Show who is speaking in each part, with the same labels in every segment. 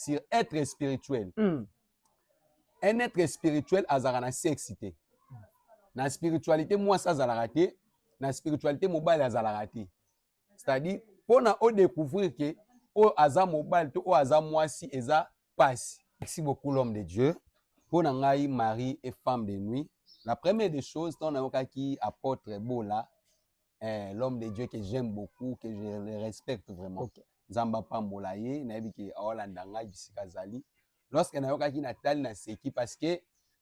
Speaker 1: sur être spirituel mm. un être spirituel azalaka na sexe te na spiritualité mwasi azalaka te na spiritualité mobali azalaka te c'est-à-dire mpo na odécouvrir ke oyo aza mobali to oyo aza mwasi eza pasi merci beaucoup l'homme de dieu mpo na ngai marie et femme de nuit la première des choses ntango nayokaki apôtre bola eh, l'homme de Dieu que j'aime beaucoup que je le respecte vraiment okay. Nzambe apambola ye nayebi ke aolanda ngai bisika azali lorsque nayokaki natali na seki parce que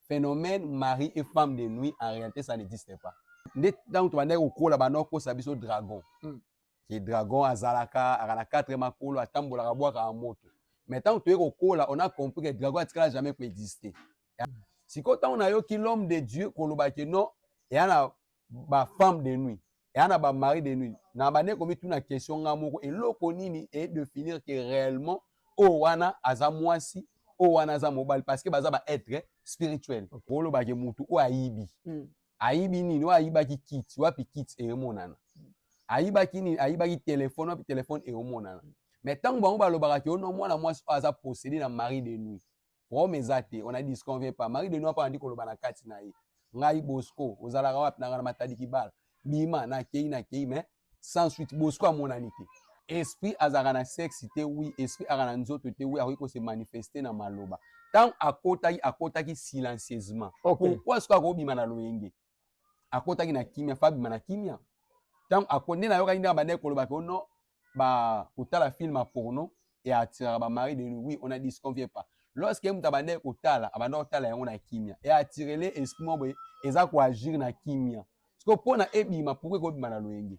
Speaker 1: phénomène mari et femme de nuit en réalité ça n'existe pas nde ntango tobandaki kokola banda kokosa biso dragon mm. ke dragon azalaka aka na 4 makolo atambolaka bwakaka moto mais ntango toye kokola on a compris que dragon atikala jamais koexiste mm. sikoyo ntango nayoki l'homme de dieu kolobaki non eya na ba femme de nuit eya na ba mari de nuit na bande komituna question nga moko eloko nini e definir que réellement oyo wana aza mwasi oyo wana aza mobali parce que baza ba être spirituel okay. olobake mutu oyo ayibi mm. ayibi nini oyo ayibaki kiti wapi kiti emonana mm. ayibaki nini ayibaki telefone wapi telefone emonana mm. mais ntango bango balobaka ke ono mwana mwasi oyo aza posede na mari de nuit Rome eza te, on a disconvient pas. Marie de Noa pa andi koloba na kati na ye. Ngai Bosco, ozalaka wapi na ngana matadi kibala. Bima na kei na kei mais sans suite Bosco amonani te. Esprit azalaka na sexe te oui, esprit aka na nzoto te oui, akoki ko se manifester na maloba. Tango akotaki, akotaki silencieusement. Okay. Pourquoi soki akobima na loyenge? akotaki na kimia fa abima na kimia ntango akonde nayokaki ndenge abandaki koloba ke ono bakotala film ya porno e attiraka bamari de lui on a disconvie pas lorsque ye moto abandaki kotala abandaki kotala yango na kimia e attirele esprit moko boye eza koagir na kimia sikoyo mpo na ebima pourkoi ekobima na loyenge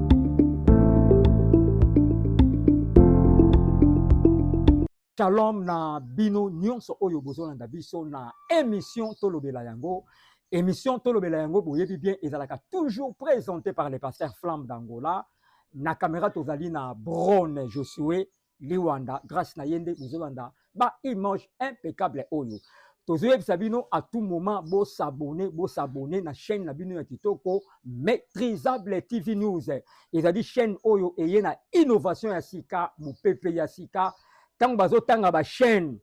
Speaker 2: Shalom na bino nyonso oyo bozolanda biso na emission tolobela yango émission tolobela yango boyebi bien ezalaka toujours présenté par le pasteur flamme d'angola na caméra tozali na brone josue liwanda grâce na ye nde bozolanda ba image impeccable oyo tozoyebisa bino à tout moment bosabone bosabone na chaîne na bino ya kitoko maîtrisable tv news ezali chaîne oyo eye na innovation ya sika mopepe ya sika ntango bazotanga bachaîne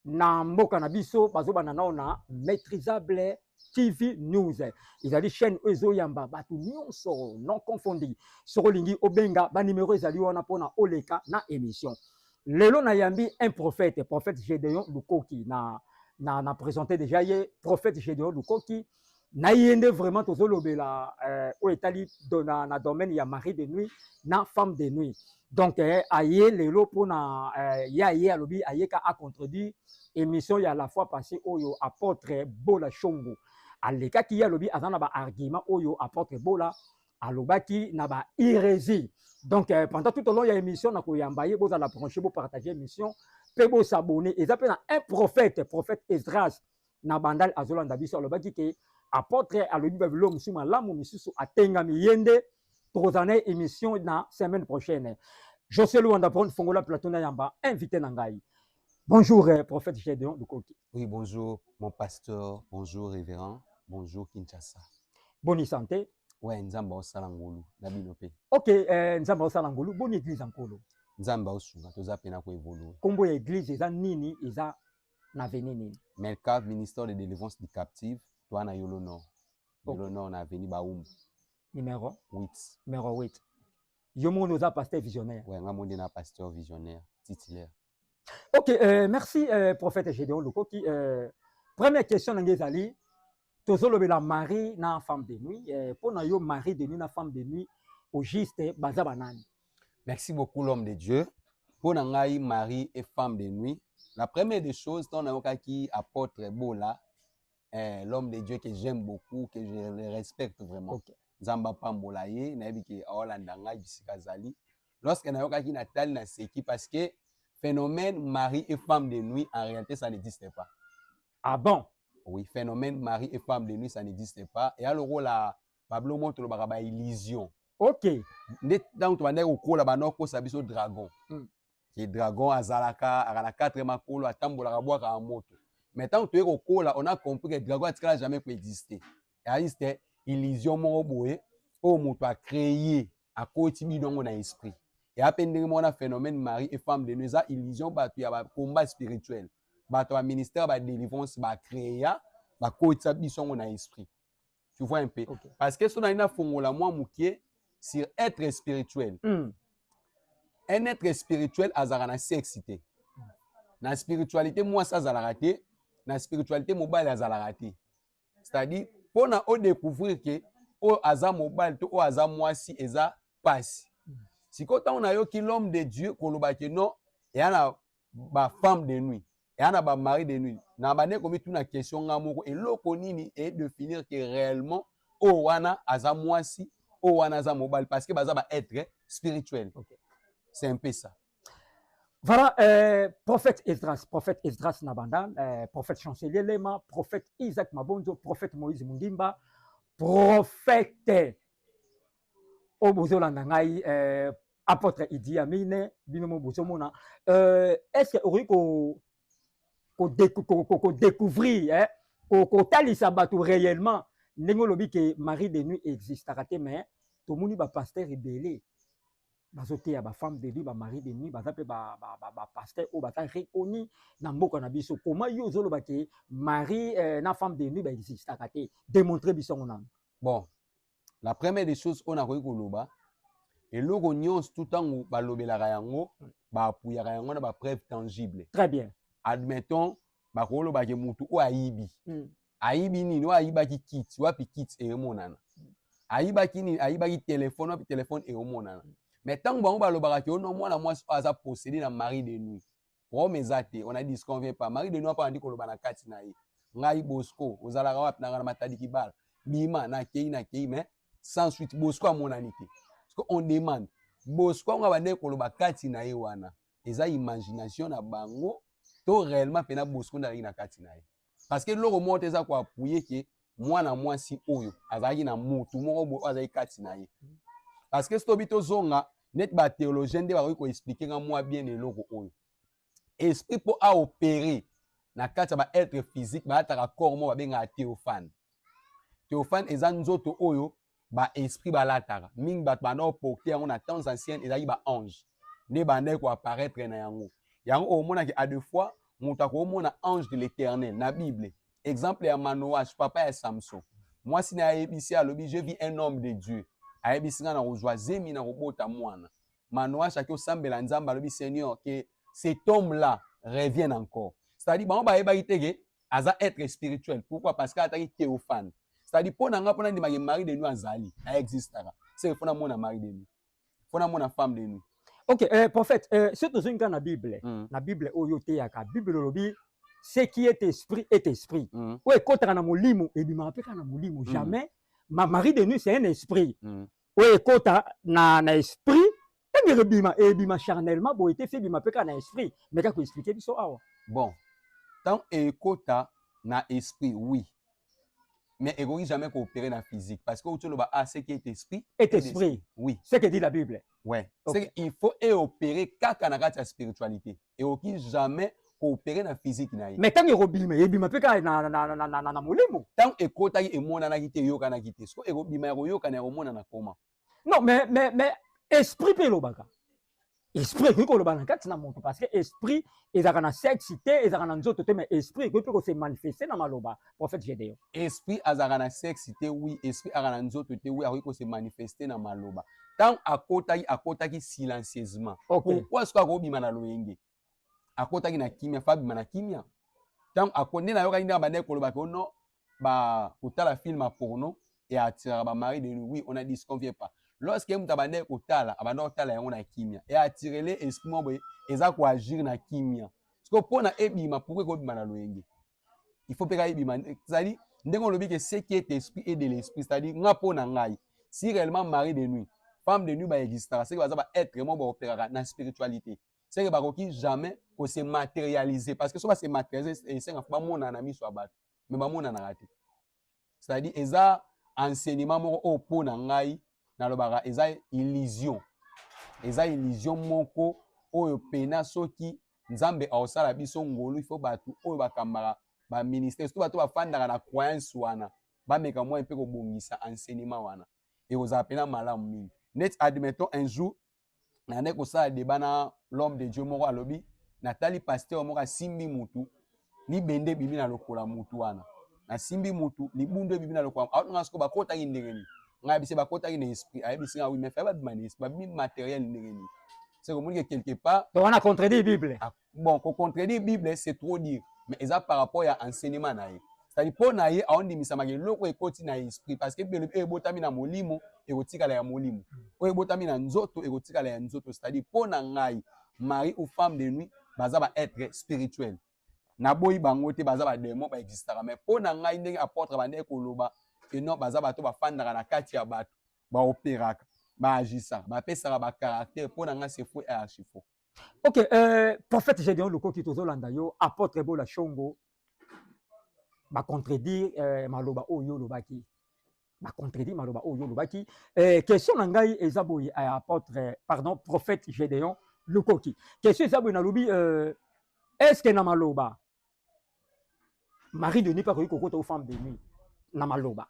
Speaker 2: na mboka na biso bazobanda nao na maîtrisable TV News ezali chaîne oyo ezoyamba bato nyonso non confondi. Soki olingi obenga ba numero ezali wana mpona oleka na émission. Lelo nayambi un prophète, prophète Gedeon Lukoki na na, na présente déjà ye prophète Gedeon Lukoki na ye nde vraiment tozolobela euh, oyo etali na, na domaine ya mari de nuit na femme de nuit donc eh, aye lelo mpona eh, ye aye alobi ayeka acontredire émission ya la fois passé oyo apôtre bola shongo alekaki ye alobi aza na baargument oyo apôtre bola alobaki na ba irési donc eh, pendant tout au long ya émission na koyamba ye bozala branche bopartage émission mpe bosabone eza mpe na un prophète prophète esdras na bandal azolanda biso alobaki ke apotre alobi ba bilo mosusu malamu misusu atengami ye nde tokozala na émission na semaine prochaine josé luanda pon fongola plateau na yamba invité na ngai bonjour eh, prophète gédéon lukoki oui bonjour
Speaker 1: mon pasteur bonjour révérend bonjour kinshasa boni santé
Speaker 2: ouais nzambe aosala
Speaker 1: ngolu na bino mpe ok eh,
Speaker 2: nzambe aosala ngolu boni église ya nkolo nzambe aosunga
Speaker 1: toza mpe na koevolue nkombo ya église eza
Speaker 2: nini eza na avenue nini melcave ministère de
Speaker 1: délivrance du captive toa na yolo nord yolo okay. nord na avenue baumbu numéro
Speaker 2: 8 numéro
Speaker 1: 8
Speaker 2: yo moko oza pasteur visionnaire ouais, nga monde na pasteur
Speaker 1: visionnaire titulaire ok euh,
Speaker 2: merci euh, prophète gédéon lokoki euh, première question na ngai ezali tozolobela marie na femme de nuit eh, mpo na yo marie de nuit na femme de nuit au juste baza banani merci beaucoup
Speaker 1: l'homme de dieu mpo na ngai marie et femme de nuit la première des choses ntango nayokaki apôtre bola eh, l'homme de dieu que j'aime beaucoup que je le respecte vraiment okay. nzambe apambola ye nayebi ke aolanda ngai bisika azali lorsque nayokaki natali naseki parce que phénomène marie et
Speaker 2: femme
Speaker 1: de nuit en réalité ça n'existe pas ah bon oui phénomène mari et femme de nuit ça n'existe pas eya lokola bablo moko tolobaka ba illusion ok
Speaker 2: nde ntango
Speaker 1: tobandaki kokola banda kokosa biso dragon mm. ke dragon azalaka aka na 4 makolo atambolaka bwakaka moto mais ntango toye kokola on a compris ke dragon atikala jamais koexiste existe illusion moko boye oyo moto acreye akoti bino yango na esprit eya mpe ndenge moko na phénomène mari et femme de nuit eza illusion bato ya bacombat spirituel bato ya ministère ba délivrance ba créa bakotisa biso yango na esprit tu vois un peu okay. parce que so nali nafongola mwa moke sur être spirituel mm. un être spirituel azalaka na sexe te na spiritualité mwasi azalaka te na spiritualité mobali azalaka te c'est-à-dire mpo na odécouvrir ke oyo aza mobali to oyo aza mwasi eza mpasi sikoyo ntango nayoki l'homme de dieu koloba ke non eya na ba femme de nuit eya na ba mari de nuit na bande komituna question nga moko eloko nini e definir que réellement oyo oh, wana aza mwasi oyo oh, wana aza mobali parce que baza ba être spirituel okay. c'est un peu ça Voilà,
Speaker 2: euh, prophète Esdras, prophète Esdras Nabanda, euh, prophète Chancelier Lema, prophète Isaac Mabonzo, prophète Moïse Mundimba, prophète oyo bozolanda ngai eh, apôtre idi amine bino mo bozomona euh, est ce que okoki kodecouvrir ko, ko, ko, ko, kotalisa eh, bato réellement ndenge olobi ke marie de nuit existaka te mais tomoni bapaster ebele bazoteya bafemme de nuit bamari de nuit baza mpe bapaster oyo baza reconi na mboka na biso koma yo ozoloba ke mari eh, na femme de nuit baexistaka te démontre biso yango nano bon
Speaker 1: la première des choses oyo nakoki koloba eloko nyonso tu ntango balobelaka yango baapuyaka yango na bapreuve tangible très bien
Speaker 2: admettons
Speaker 1: bakoloba ke motu oyo ayibi mm. ayibi nini oyo ayibaki kiti wapi kiti emonana hmm. ayibaki nini ayibaki telefone wapi telefone emonana mais ntango bango balobaka ke ono mwana mwasi oyo aza posede na marie de nuit Rome eza te, on a dit convient pas. Marie de Noa pa andi koloba na kati na ye. Ngai Bosco, ozalaka wapi na ngana matadi kibala. Bima na kei na kei mais sans suite Bosco amonani te. Parce que on demande Bosco nga bande koloba kati na ye wana. Eza imagination na bango to réellement pena Bosco ndalaki na kati na ye. parce que eloko moko te eza ko appuyer ke mwana mwasi oyo azalaki na mutu moko boye oyo azalaki kati na ye parce que soki tozonga neti ba théologien nde bakoki koexplike nga mwa bien na eloko oyo esprit mpo aopere na kati ya ba être physique balataka corps moko babengaka théophane théophane eza nzoto oyo ba esprit balataka mingi bato banda koporte yango na temps ancienne ezalaki ba ange nde bandaki koapparaître na yango yango omonaki a deux fois moto akomona ange de l'éternel na bible exemple ya manoage papa ya samson mwasi na ye ayebisi alobi je vis un homme de dieu ayebisi ngai na kozwa zemi na kobota mwana Manoash ake osambela Nzambe alobi Seigneur que cet homme là revienne encore. C'est-à-dire bango bayebaki te que aza être spirituel. Pourquoi? Parce que ataki théophane. C'est-à-dire mpo na ngai mpo nandimaki mari de nuit azali na existaka. C'est mpo namona mari de nuit. Mpo namona femme de nuit. Ok, euh, prophète,
Speaker 2: euh, soki tozongi kaka na Bible, mm. na Bible oyo oteyaka, Bible olobi ce qui est esprit est esprit. Mm. Oyo ekotaka na molimo ebimaka mpe kaka na molimo. Mm. Jamais mm. ma mari de nuit c'est un esprit. Mm. oyo ekota na, na esprit ntango ekobima ebima charnellement boye te fi ebima mpe kaka na esprit meka koexplike biso awa bon
Speaker 1: ntango ekota na esprit oui mais ekoki jamais koopere na physique parce que outi oloba ah ce qui est esprit est esprit oui
Speaker 2: ce que dit la
Speaker 1: bible
Speaker 2: ouais okay. il
Speaker 1: faut eopere kaka na kati ya spiritualité ekoki jamais koopere na physique na ye mais ntango ekobima ebima
Speaker 2: mpe kaka na, na, na, na, na, na molimo ntango ekotaki
Speaker 1: emonanaki te eyokanaki te soko ekobima ya koyokana ya komonana koma non mais, mais,
Speaker 2: mais esprit mpe elobaka esprit ekoki koloba na kati na moto parce que esprit ezalaka na sexe te ezalaka na nzoto te mais esprit ekoki mpe kose manifeste na maloba prophète Gedeon. Esprit azalaka na
Speaker 1: sexe te oui, esprit aka na nzoto te oui, akoki ko se manifester na maloba. Tant akotaki akotaki silencieusement. Okay. Pourquoi ce ko bima na loyenge? Akotaki na kimia, fa bima na kimia. Tant akonde na yokaki ndanga bande koloba ko non ba kotala film porno et attiraka ba mari de lui. Oui, on a dit ce qu'on vient pas. Lorsque mutu abande kotala, abande kotala yango na kimia. Et attirele esprit moko eza ko agir na kimia. Siko pona ebima pourquoi ko bima na loyenge? il faut mpe kaka ebima ezali ndenge olobi ke ce qui est esprit et de l'esprit c'est-à-dire nga mpo na ngai si réellement mari de nuit femme de nuit baexistaka seke baza baêtre moko baoperaka na spiritualité seke bakoki jamais kose matérialiser parce que so base matérialiser esenga fo bamonana na miso ya bato me bamonanaka te c'est-à-dire eza enseignement moko oyo mpo na ngai nalobaka eza illusion eza illusion moko oyo pena soki nzambe aosala biso ngolu ifo bato oyo bakambaka baministère soki bato bafandaka na croyance wana bameka mwa mpe kobongisa enseignement wana ekozala pena malamu mingi neti admettons un jour nayandaki kosala deba na l'homme de dieu moko alobi natali pasteur moko asimbi mutu libende ebimi na lokola mutu wana nasimbi mutu libundu ebimi na lokola aotanga soko bakotaki ndenge nini ngai bise bakotaki na esprit ayebisi ngai oui mais fai babima na esprit babimi matériel ndenge nini c'est komoni que quelque part wana contredit bible
Speaker 2: ah, bon ko contredire
Speaker 1: bible c'est trop dire mais eza par rapport ya enseignement na ye c'est-à-dire mpo na ye aondimisama eloko ekoti na esprit parce que bible oyo ebotami na molimo ekotikala ya molimo oyo ebotami na nzoto ekotikala ya nzoto c'est-à-dire mpo na ngai mari ou femme de nuit baza ba être spirituel naboyi bango te baza bademo baexistaka mai mpo na ngai ndenge apotre bandeki koloba ke non baza bato bafandaka na kati ya bato baoperaka baagisaka bapesaka bacaractere mpo na ngai sefo archifo Ok, euh,
Speaker 2: prophète Gédéon Lukoki, tozolanda yo, apôtre Bola Shongo, ba contredire euh, maloba oyo olobaki. Ba contredire maloba oyo olobaki. Euh, question na ngai eza boye à apôtre, euh, pardon, prophète Gédéon Lukoki. Question eza boye nalobi euh, est-ce que na maloba Marie de Nuit akoki kokota au femme de nuit na maloba.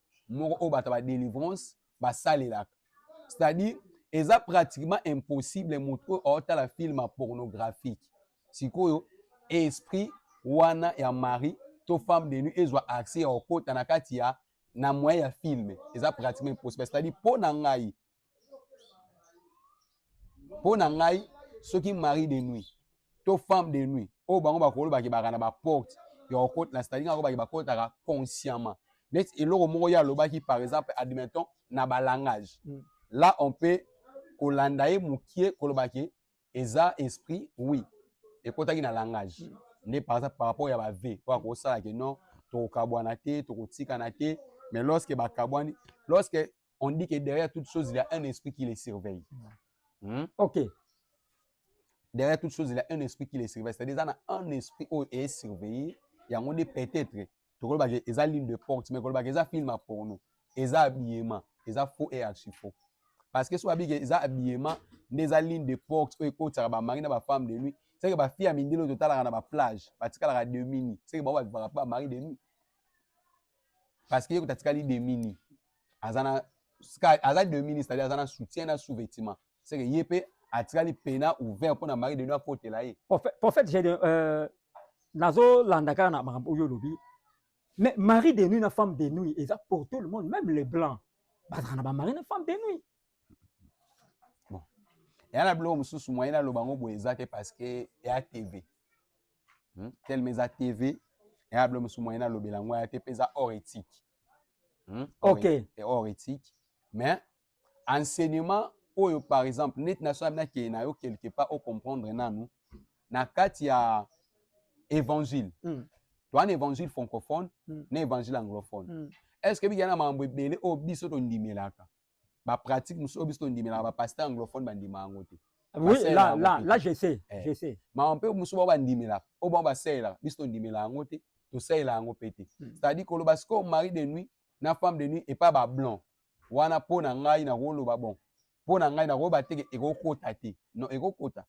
Speaker 1: moko oyo bato ba délivrance basalelaka c'est-à-dire eza pratiquement impossible moto oyo aotala filme pornographique sikoyo esprit wana ya mari to femme de nuit ezwa accès ya kokota na kati ya na moyen ya filme eza pratiquement impossible c'est-à-dire mpo na ngai mpo na ngai soki marie de nuit to femme de nuit oyo bango bakoloba kebaka na baporte ya kokota na stadinga yango bake bakotaka consciemment neti eloko moko ye alobaki par exemple admettons na balangage mm. là on peut kolanda ye mokie kolobaki eza esprit oui ekotaki na langage mm. nde par exemple par rapport ya ba vie oyo akosala ke non tokokabwana te tokotikana te mais lorsque bakabwani lorsque on dit que derrière toute chose il y a un esprit qui les surveille mm. hmm? ok derrière toute chose il y a un esprit qui les surveille c'est-à-dire eza na un esprit oyo eye surveille yango nde peut-être tokolobaka eza ligne de porte mais kolobaka eza film ya porno eza habillement eza faux et archi faux parce que soki abiki eza habillement nde eza ligne de porte oyo ekotisaka bamari na bafemme de nuit seke bafille ya mindele oyo totalaka na baplage batikalaka demini seke bango babivaka mpe bamari de nuit parce que ye kuta atikali demini aza na aza demini c'est-à-dire aza na soutien na sous-vêtement c'est que ye pe atikali pena ouvert pona mari de nous akotela ye prophète prophète j'ai euh
Speaker 2: nazo landa kaka na makambo oyo olobi mais mari de nuit na femme de nuit eza pour tout le monde même les blancs bazalaka na bamari na femme de nuit bon
Speaker 1: eya na biloko mosusu moyen aloba yango boye eza te parce que eya tv hmm? telema eza tv eya na biloko mosusu moyen alobela yango eya te mpe eza hors éthique hmm?
Speaker 2: ok hors
Speaker 1: éthique mais enseignement oyo par exemple neti na soki nakende na yo quelque part o comprendre nanu na kati ya évangile mm. toa na évangile francophone mm. na évangile anglophone mm. est ce que bikena makambo ebele oyo biso tondimelaka bapratique mosusu oyo biso tondimelaka bapaster anglophone bandima yango te oui là
Speaker 2: là là je sais eh. je sais makambo mpe mosusu bao
Speaker 1: bandimelaka oyo bao basalelaka biso tondimela yango te tosalela yango mpe te hmm. c'est-à-dire koloba sikoyo mari de nuit na femme de nuit epa ba blanc wana mpo na ngai nakoloba bon mpo na ngai nakoyeba te ekokota te non ekokota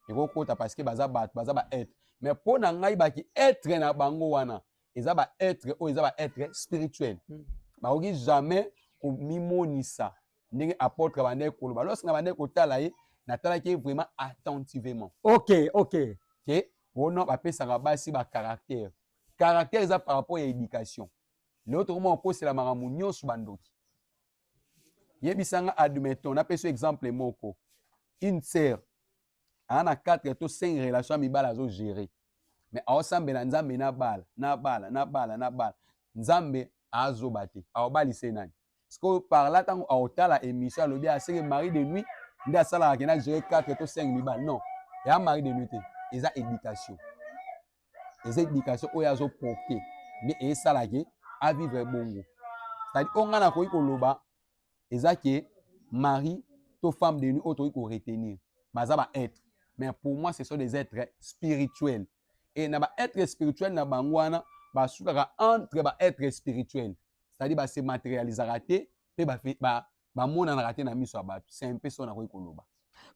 Speaker 1: ekokota parce que baza bato baza ba être mais mpo na ngai baki être na bango wana eza ba être oyo eza ba être spirituel hmm. bakoki jamais komimonisa ndenge apotre abandaki koloba lorsque nabandaki kotala ye natalaki ye vraiment attentivement ok ok
Speaker 2: ke
Speaker 1: wana bapesaka basi ba caractère caractère eza par rapport ya éducation lelo tokoma kokosela makambo nyonso bandoki yebisa nga admettons napesi exemple moko une sœur aa na 4 to 5 relation ya mibala azogere mais aosambela nzambe na bala na bala na bala na bala nzambe azoba te aobalise nani sikoyo parla ntango aotala émission alobi aseke marie de nuit nde asalaka kena gere 4 to 5 mibala non eya marie de nuit te eza éducation eza éducation oyo azo porter nde esala ke a vivre bongo c'est-à-dire oyo ngai nakoki koloba eza ke mari to femme de nuit oyo tokoki koretenir baza ba être mais pour moi ce sont des êtres spirituels et na ba être spirituel na bango wana basukaka entre ba être spirituel c'est-à-dire base materialisaka te mpe bamonanaka ba, te na miso ya bato c'est un peu so nakoki koloba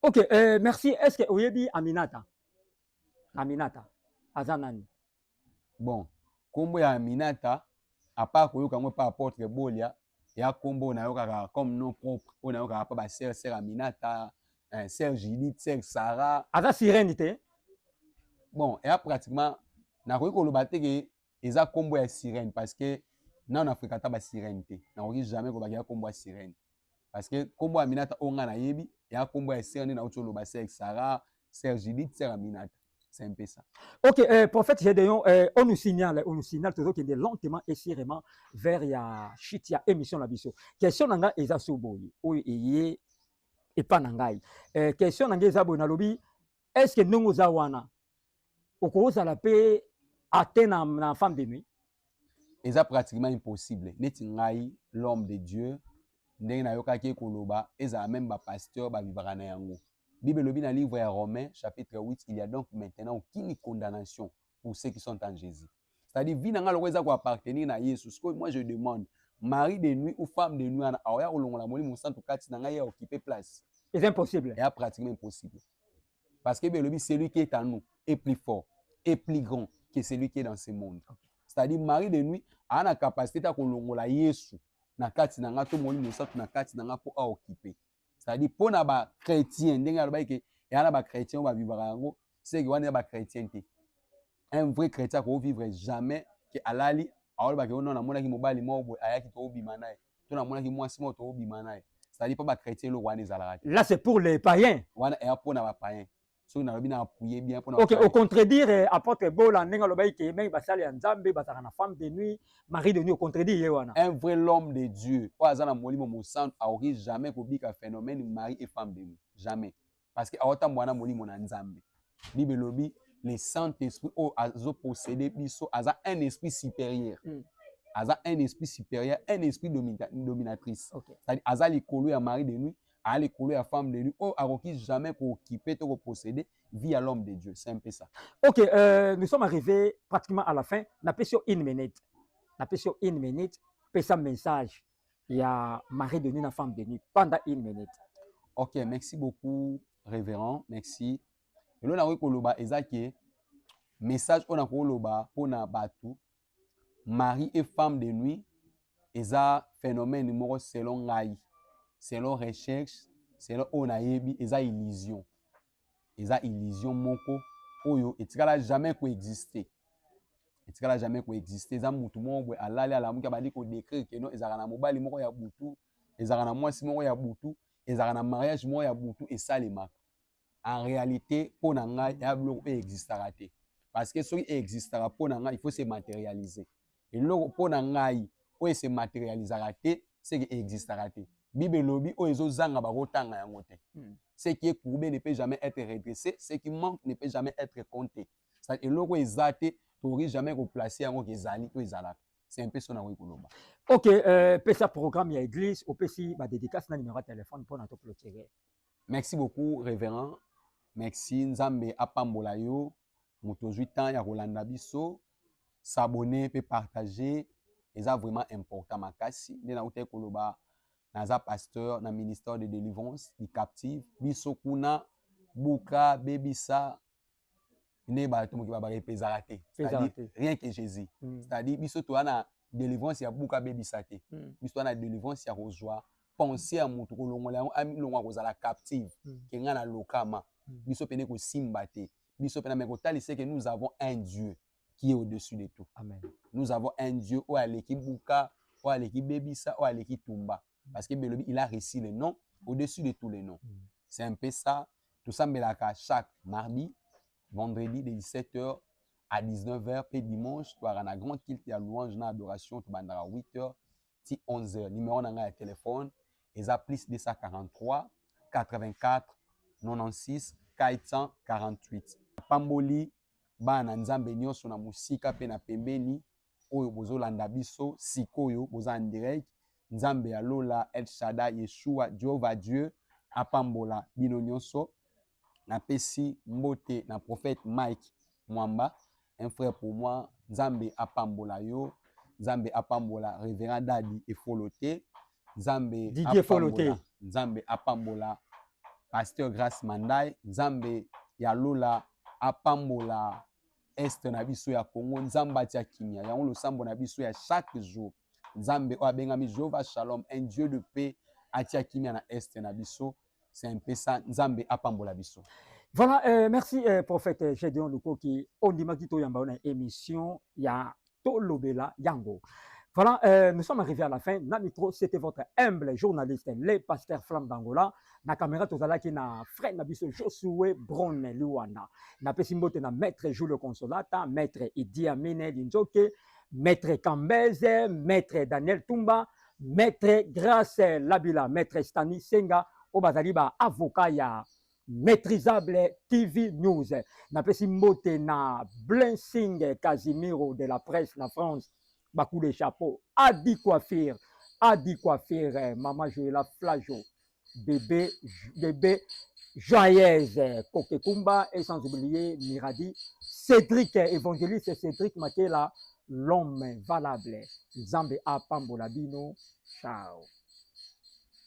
Speaker 1: ok euh,
Speaker 2: merci est ce que oyebi aminata Aminata aza nani? Bon,
Speaker 1: kombo ya Aminata apa koyoka yango pa apotre Bolia ya kombo nayokaka comme nom propre oyo nayokaka pa ba sœur sœur Aminata, eh, sœur Judith, sœur Sarah. Aza sirène te?
Speaker 2: Bon,
Speaker 1: ya pratiquement nakoki koloba te ke eza kombo ya sirène parce que nanu na fréquenta ba sirène te. Nakoki jamais koloba ya kombo ya sirène. parce que kombo Aminata o nga nayebi ya kombo ya sœur nde nauti oloba sœur Sarah sœur Judith sœur Aminata c'est un peu ça. Ok, euh, prophète
Speaker 2: Gédéon, euh, on nous signale, on nous signale toujours qu'il est lentement et sûrement vers ya chute ya émission la biso. Question nanga eza soboye, oyo eye epa nangai. Euh, question nanga eza boye nalobi est ce que ndenge oza wana okozala mpe ate na, na femme de nuit eza
Speaker 1: pratiquement impossible neti ngai l'homme de dieu ndenge nayokaki ye koloba ezala meme bapasteur babibaka na yango bible elobi na livre ya romain chapitre 8 il y a donc maintenant aucune condamnation pour ceux qui sont en jésus c'est-à-dire vie na nga loko eza ko appartenir na Yesu sikoyo moi je demande mari de nuit ou femme de nuit wana aoya kolongola molimo mosantu kati na ngai ya okipe place eza impossible ya
Speaker 2: pratiquement impossible
Speaker 1: parce que belobi celui qui est en nous est plus fort est plus grand que celui qui est dans ce monde okay. c'est-à-dire mari de nuit aa na capacité ta kolongola yesu na kati na ngai to molimo mosantu na kati na ngai mpo aokipe c'est-à-dire mpo na bachrétien ndenge alobaki ke eya na bachrétien oyo bavivaka yango seke wana ya bachrétien te un vrai chrétien akoki vivre jamais ke alali aolobake ono namonaki mobali moko boye ayaki toobima na ye to namonaki mwasi moko toobima na ye c'est-à-dire mpo bachrétien eloko wana ezalaka te là c'est pour les païens
Speaker 2: wana eya mpo na
Speaker 1: bapayen soki nalobi na appuye bien mpona ok ocontredire
Speaker 2: eh, apôtre bola ndenge alobaki ke mingi basali ya nzambe bazalaka na femme de nuit marie de nuit ocontredire ye wana un vrai l'homme de
Speaker 1: dieu oyo aza na molimo mosantu akoki jamais kobika phénomène marie et femme de nuit jamais parce que aotambola na molimo na nzambe bible elobi le saint esprit oyo azopossede biso aza un esprit supérieur mm. aza un esprit supérieur un esprit dominatrice okay. aza
Speaker 2: likolo ya
Speaker 1: marie de nuit aa likolo ya femme de nuit oyo oh, akoki jamais kookipe to kopossede vie ya l'homme de dieu c'est un peu ça ok euh, nous
Speaker 2: sommes arrivés pratiquement à la fin napesi yo une minute napesi yo une minute pesa message ya mari de nuit na femme de nuit pendant une minute ok merci
Speaker 1: beaucoup révérend merci eloo nakoki koloba eza ke message oyo nakoloba mpo na bato mari et femme de nuit eza phénomène moko selon ngai selon recherche selon oyo nayebi eza illusion eza illusion moko oyo etikala jamais koexiste etikala jamais koexiste eza mutu moko boye alali alamuki abandi kodecrire keno ezalaka na mobali moko ya butu ezalaka na mwasi moko ya butu ezalaka na mariage moko ya butu esalemaka en réalité mpo na ngai eya biloko oyo existaka te parce que soki existaka mpo na ngai il faut se matérialiser eloko mpo na ngai oyo se matérialisaka te seke existaka te bible elobi oyo ezozanga bakotanga yango te hmm. ce qui est courbé ne peut jamais être redressé ce qui manque ne peut jamais être compté eloko eza te tokoki jamais koplace yango kezali to ezalaka c'est un peu son akoki koloba ok euh,
Speaker 2: pesa programme ya église opesi badédicace na numéro ya téléphone mpo na toclotire Merci beaucoup
Speaker 1: reverend. Merci Nzambe apambola yo. Moto ozwi temps ya kolanda biso. S'abonner pe partager eza vraiment important makasi. Nde nautaki koloba naza pasteur na ministère de délivrance du captive. Biso kuna buka bebisa nde bato moke babaka epe ezalaka te c'est-à-dire rien que jésus mm. c'est-à-dire biso toza na délivrance ya buka abebisa te mm. biso toza na délivrance ya kozwa pensée ya moto kolongola yango alongwa kozala captive mm. ke ngai na lokama mm. biso mpe nde kosimba te biso mpe na me kotalisa eke nous avons un dieu qui est au-dessus de tout Amen. nous avons
Speaker 2: un
Speaker 1: dieu oyo aleki buka oyo aleki bebisa oyo aleki tumba parce que belobi il a reçu le nom au-dessus de tous les noms mm. c'est un peu ça tosambelaka chaque mardi vendredi de 17h à 19h pe dimanche toyaka na grand kilte ya louange na adoration tobandaka 8h ti 11h numéro na ngai ya telefone eza plus 243 84 96 448 apamboli bana na nzambe nyonso na mosika mpe na pembeni oyo bozolanda biso sikoyo boza en direct nzambe ya lola el shada yeshua jehova dieu apambola bino nyonso napesi mbote na prophète mike mwamba un frère pour moi nzambe apambola yo nzambe apambola reverend dadi efolo te nzambe Didier Efolo te.
Speaker 2: apambola nzambe apambola
Speaker 1: pasteur grace mandai nzambe ya lola apambola est na biso ya Congo. Nzambe atia kimia yango losambo na biso ya chaque jour. Nzambe oyo abengami Jehovah Shalom, un Dieu de paix, atia kimia na est na biso. C'est un peu ça. Nzambe apambola biso. Voilà, euh, merci
Speaker 2: euh, prophète Gedeon Lukoki. Ondimaki toyamba na émission ya tolobela yango Voilà, euh, nous sommes arrivés à la fin. Na micro, c'était votre humble journaliste, le pasteur Flamme d'Angola. Na caméra, tout à qui na frère Nabiso Josué Bronne Luanda. Na pesimbote na maître Julio Consolata, maître Idi Amine Linzoke, maître Kambeze, maître Daniel Tumba, maître Grace Labila, maître Stani Senga, au bazali ba avocat ya Maîtrisable TV News. Napesi mbote na Blessing Casimiro de la presse na France. Bakou de chapeau. Adi Coiffure. Adi Coiffure. Maman Joëla Flajo. Bébé, bébé Joyeuse Kokekumba et sans oublier Miradi. Cédric, évangéliste Cédric Makela, l'homme valable. Zambe a Pambolabino. Ciao.